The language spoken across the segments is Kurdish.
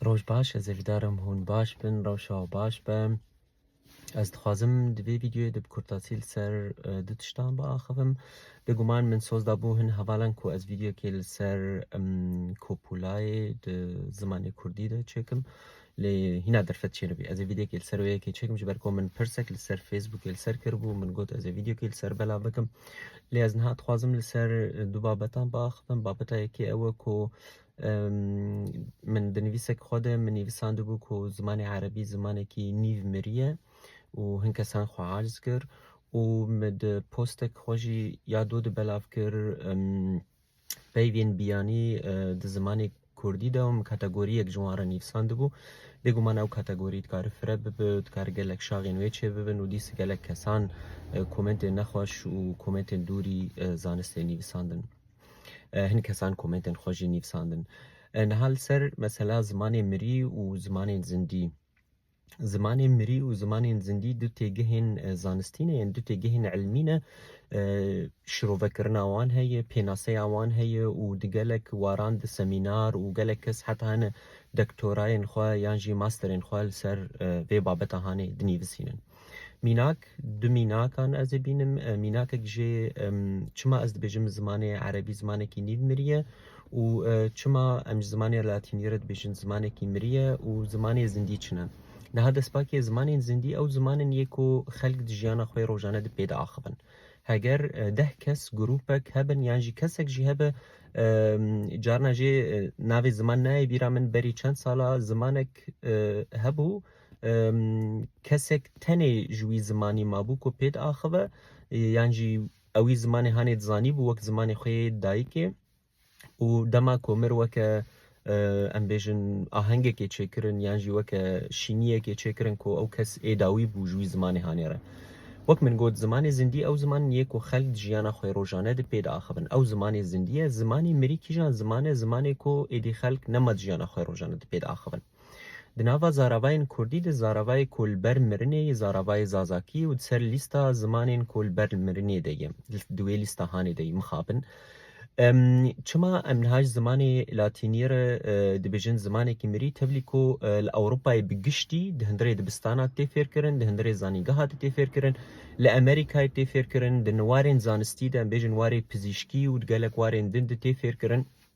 Roj baş, ez ê bidarim hûn baş bin, rewşa û baş be. Ez dixwazim di vê vîdyoyê de bi kurtasî li ser e, du tiştan biaxivim. Bêguman min soz dabû hin hevalan ku ez vîdyokê li ser Kopulayê di zimanê Kurdî de çêkim. Lê hîna derfet çênibî. Ez ê vîdyekê li ser wê yekê çêkim ji ber ku min pirsek li ser Facebookê li ser kiribû, min got ez ê vîdyekê li ser belav bikim. Lê ez niha dixwazim li ser du babetan biaxivim. Babeta yekê ew e ku min di nivîsekê xwe de min nivîsandibû ku zimanê erebî zimanekî nîv miriye û hin kesan xwe aciz kir û min di postekê xwe jî ya do di belav kir Peyvên biyanî di zimanê kurdî de hûn kategoriyek ji wan re nivîsandibû. Bêguman ew kategorî dikare fire bibe, dikare gelek şaxên wê çêbibin û dîs gelek kesan komentên nexweş û komentên dûrî zanistê nivîsandin. Hin kesan komentên xwe jî nivîsandin. Niha li ser mesela zimanê mirî û zimanên zindî. Zimanên mirî û zimanên zindî du têgihên zanistî ne yên, du têgihên ilmî ne. Şirovekirina wan heye, pênaseya wan heye û di gelek waran di semînar û gelek kes heta hene doktorayên xwe yan jî masterên xwe li ser vê babeta hanê dinîvisînin. Mînak Du mînakan ez ê bînim. Mînakek jê çima ez dibêjim zimanê erebî zimanekî nîv miriye û çima em ji zimanê latînî re dibêjin zimanekî miriye û zimanê zindî çin e. Niha destpakê zimanên zindî ew ziman in yê ku xelk di jiyana xwe yê rojane de pê diaxivin. Heger deh kes, grûpek hebin yan jî kesek jî hebe carina jê navê ziman nayê bîra min berî çend sala zimanek hebû, Kesek tenê ji wî zimanî mabû ku pê diaxive yan jî ew wî zimanê hanê dizanîbû wek zimanê xwe yê dayikê û dema ku mir weke em bêjin ahengekê çêkirin yan jî weke şîniyekê çêkirin ku ew kes ê dawî bû ji wî zimanê hanê re. Wek min got zimanê zindî ew ziman yê ku xelk di jiyana xwe rojane de pê diaxivin. Ew zimanê zindî ye. Zimanê mirî kîjan ziman e? Zimanê ku êdî xelk nema di jiyana xwe rojane de pê diaxivin. Di nava zaravayên kurdî de zaravayê ku li ber mirinê ye zaravayê zazakî ye û di ser lîsta zimanên ku li ber mirinê de ye, di wê lîsta hanê de ye, mixabin. Çima em niha ji zimanê latîniyê re dibêjin zimanekî mirî, tevlî ku li Ewropayê bi giştî di hundirê dibistana de tê fêrkirin, di hundirê zanîngeha de tê fêrkirin, li Amerîkayê tê fêrkirin, di warên zanistî de em bêjin warê pizîşkî û di gelek warên din de tê fêrkirin.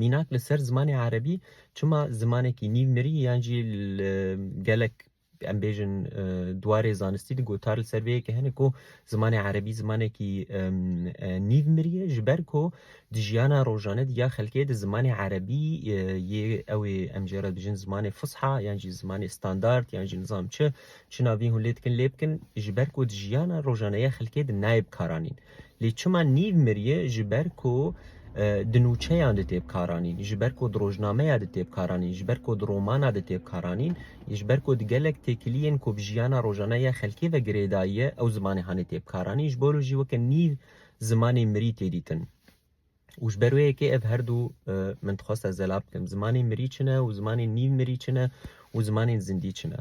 Mînak li ser zimanê erebî çima zimanekî nîv mirî yan jî li gelek em bêjin dwarê zanistî de gotar li ser vê yekê hene ku zimanê erebî zimanekî nîv mirî ye ji ber ku di jiyana rojane de ya xelkê de zimanê erebî yê ew ê em jê re bijin zimanê fusha yan jî zimanê standard yan jî nizam çi çi navîn hûn lê dikin lê bikin ji ber ku di jiyana rojane ya xelkê de nayê bikaranîn. Lê çima nîv mirîye ji ber ku di nûçeyan de tê bikaranîn, ji ber ku di rojnameya de tê bikaranîn, ji ber ku di romana de tê bikaranîn, ji ber ku di gelek têkilîyên ku bi jîyana rojane ya xelkê ve girê dayîye ew zimanê hanê tê bikaranîn, ji bo re jî weke nîv zimanê mirî tê dîtin. Û ji ber wê yekê ev her du min dixweste zela bikim. Zimanên mirî çi ne û zimanên nîv mirî çi ne û zimanên zindî çi ne.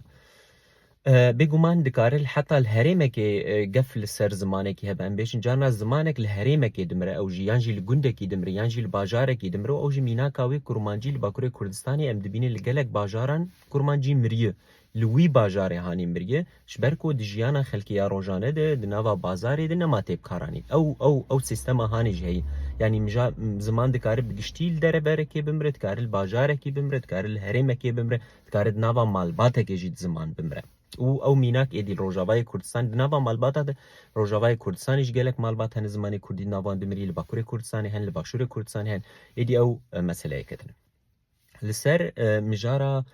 Bêguman dikare heta li herêmekê gef li ser zimanekî hebe. Em bêjin carna zimanek li herêmekê dimire ew jî yan jî li gundekî dimire yan jî li bajarekî dimire û ew jî mînaka wê kurmancî li Bakurê Kurdistanê em dibînin li gelek bajaran kurmancî miriye. Li wî bajarê hanîn birye, ji ber ku di jiyana xelkê ya rojane de, di nava bazarê de nema tê bikaranîn. Ew ew ew sîstema hanê jî heye. Yanî mija ziman dikare bi giştî li dereberekê bimire, dikare li bajarekî bimire, dikare li herêmekê bimire, dikare di nava malbatekê jî di ziman bimire. Û ew mînak êdî li Rojavayê Kurdistanê di nava malbata de, Rojavayê Kurdistanê jî gelek malbat hene zimanê Kurdî di navan de mirî, li Bakurê Kurdistanê hene, li Başûrê Kurdistanê hene. Êdî ew meseleyeke din e. Li ser mijara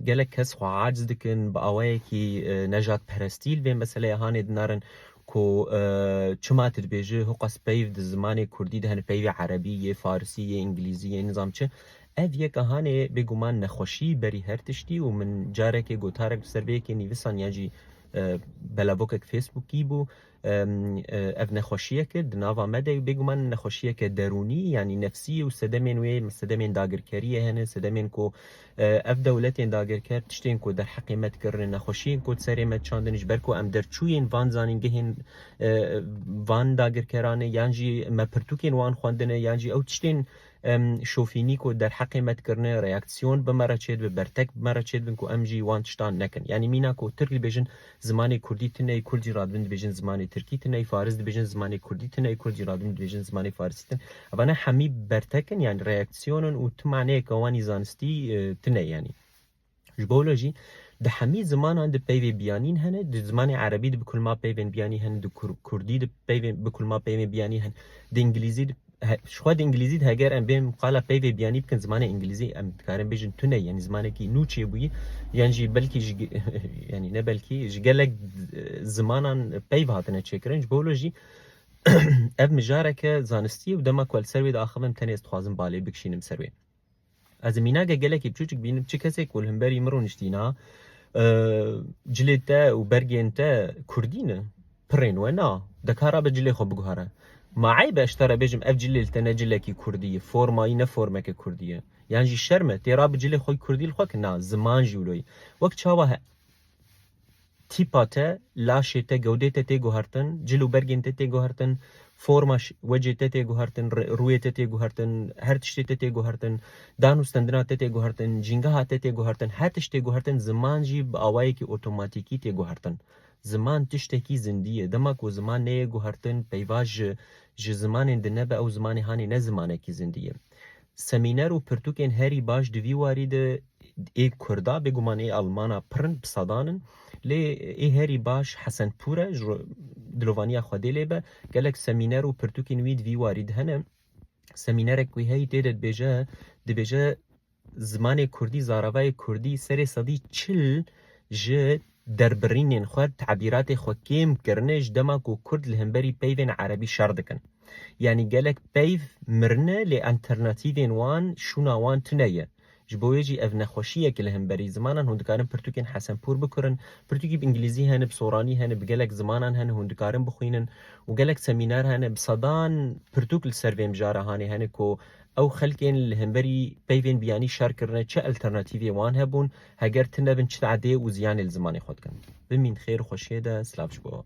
gelek kes xwe aciz dikin, bi awayekî nejatperestî li vê meseleyê hanê dinarin ku çima tu dibêjî huqas peyv di zimanê kurdî de hene peyvê erebî yê, farisî yê, îngilîzî yê nizam çi. Ev yeka hanê bêguman nexweşî berî her tiştî û min carekê gotarek li ser vê yekê nivîsan yan jî belavokek fêsbûkî bû, Ev nexweşiyek e di nava me de û bêguman nexweşiyeke derûnî yanî nefsî ye û sedemên wê sedemên dagirkeriyê hene, sedemên ku ev dewletên dagirker tiştên ku derheqê me dikirine, nexweşiyên ku di serê me diçandin ji ber ku em derçûyên van zanîngehên van dagirkeran e yan jî me pirtûkên wan xwendine yan jî ew tiştên Em şofînî ku derheqê me dikirine, reaksîyon bi me re çêdibin, bertek bi me re çêdibin ku em jî wan tiştan nekin. Yanî mîna ku tirk dibêjin zimanê kurdî tune yê kurdî ra dibin dibêjin zimanê tirkî tune yê, faris dibêjin zimanê kurdî tune yê kurdî ra dibin dibêjin zimanê farisî tune yê. Evane hemî bertek in yanî reaksîyon in û tu maneyeke wanî zanistî tune yê yanî. Ji bo wilo jî di hemî zimanan de peyvê biyanîn hene, di zimanê erebî de bi kulma peyvên biyanî hene, di kurdî de peyvên bi kulma peyvên biyanî hene, di îngilîzî de ji xwe di îngilîzî de heger em bên qala peyvê biyanî bikin zimanê îngilîzî em dikarin bêjin tune ye, yanî zimanekî nû çêbûyî yan jî belkî ji yanî ne belkî ji gelek zimanan peyv hatine çêkirin. Ji bo wilo jî ev mijareke zanistî ye û dema ku li ser wê diaxivim tenê ez dixwazim balê bikişînim ser wê. Ez mînagek gelekî biçûçik bînim, çi kesê ku li himberî min rûniştîna, cilê te û bergên te kurdî ne, pirên we na, dikare be cilê xwe biguhere. Ma eyb e ez ji te re bêjim ev cilê li te ne cilekî kurdî ye, forma yî ne formeke kurdî ye. Yan jî şerm e têra bi cilê xwe kurdî li xwe kin, na ziman jî wilo ye. Wek çawa he. tîpa te, laşê te, gewdê te tê guhertin, cil û bergên te tê guhertin, forma wecê te tê guhertin, rûyê te tê guhertin, her tiştê te tê guhertin, dan û stendina te tê guhertin, cîngeha te tê guhertin, her tişt tê guhertin, ziman jî bi awayekî otomatîkî tê guhertin. Ziman tiştekî zindî ye. Dema ku ziman neyê guhertin, peyva ji ji zimanên di nebe ew zimanê hanê ne zimanekî zindî ye. Semîner û pirtûkên herî baş di vî warî de ê kurd a, bêguman ê alman a pir in, bi sedan in. Lê ê herî baş Hesenpûr e, ji dilovaniya xwe dê lê be. Gelek semîner û pirtûkên wî di vî warî de hene. Semînerek wî heyî tê de dibêje, dibêje zimanê kurdî, zaravayê kurdî serê sedî çil ji derbirînên xwe, tebîratê xwe kêm kirine ji dema ku kurd li hemberî peyvên erebî şer dikin. Yanî gelek peyv mirine lê enternatîvên wan, şûna wan tune ye. Ji bo wê jî ev nexweşî ye ku li hemberî zimanan hûn dikarin pirtûkên hesenpûr bikurin. Pirtûkî bi îngilîzî hene, bi soranî hene, bi gelek zimanan hene hûn dikarin bixwînin û gelek semînar hene. Bi sedan pirtûk li ser vê mijara hanê hene ku ew xelkên li hemberî peyvên biyanî şer kirine çi elternatîvê wan hebûn. Heger ti nebin çit edê û ziyanê li zimanê xwe dikin. Bimîn xêr û xweşiyê de, silav ji bo.